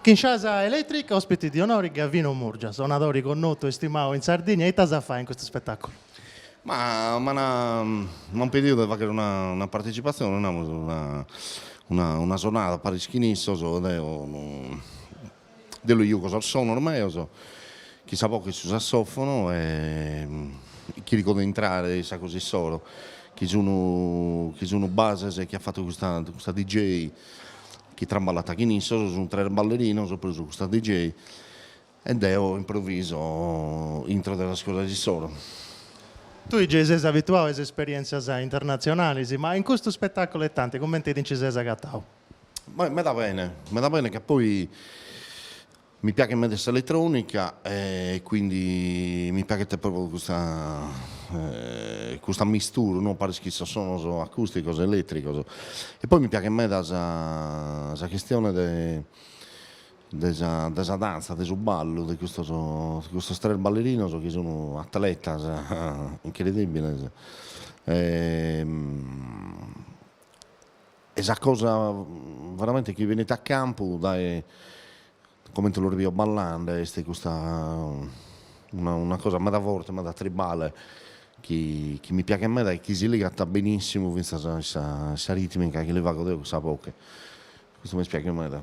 Kinshasa Electric, ospiti di onori Gavino Murgia, sonadori connotu e stimau in Sardigna, ita as a fai in custu spettaculu? Ma m'ana m'an pediu de fagheri una una partecipazioni, namus una una una sonada paris chin issos, deo no de li jugo sos sonos meos, chin sa boche e su sassofono e chirco de intrare in sa cosa issoro, chi sun chi sun bases chi at fattu custa custa DJ chi traballat chin issos, sunt tres ballerinos prus custa DJ, e deo improviso intro de sas cosas issoro. Tui gei ses abituadu a is esperièntzias internatzionalis, ma in custu ispetàculu de Atlanti, cumenti ti nci ses agatadu? Beh, meda bene, meda bene, ca poi Mi piaghet meda s'eletrònica e quindi mi piaghet pròpriu custa custa mistura no paris chin sos sonos acùsticos e elètricos e poi mi piaghet meda sa sa chistione de de sa de sa danza de su ballu de custos de custos tres ballerinos chi sun atletas incredibiles e E sa cosa veramente chi benit a campu dae comente los bio ballende est custa una una cosa meda forte, meda tribale chi chi mi piaghet meda e chi si ligat benissimu finzas a sa a sa ritmica chi li fago deo cun sa boche. Custu m'est piaghiu meda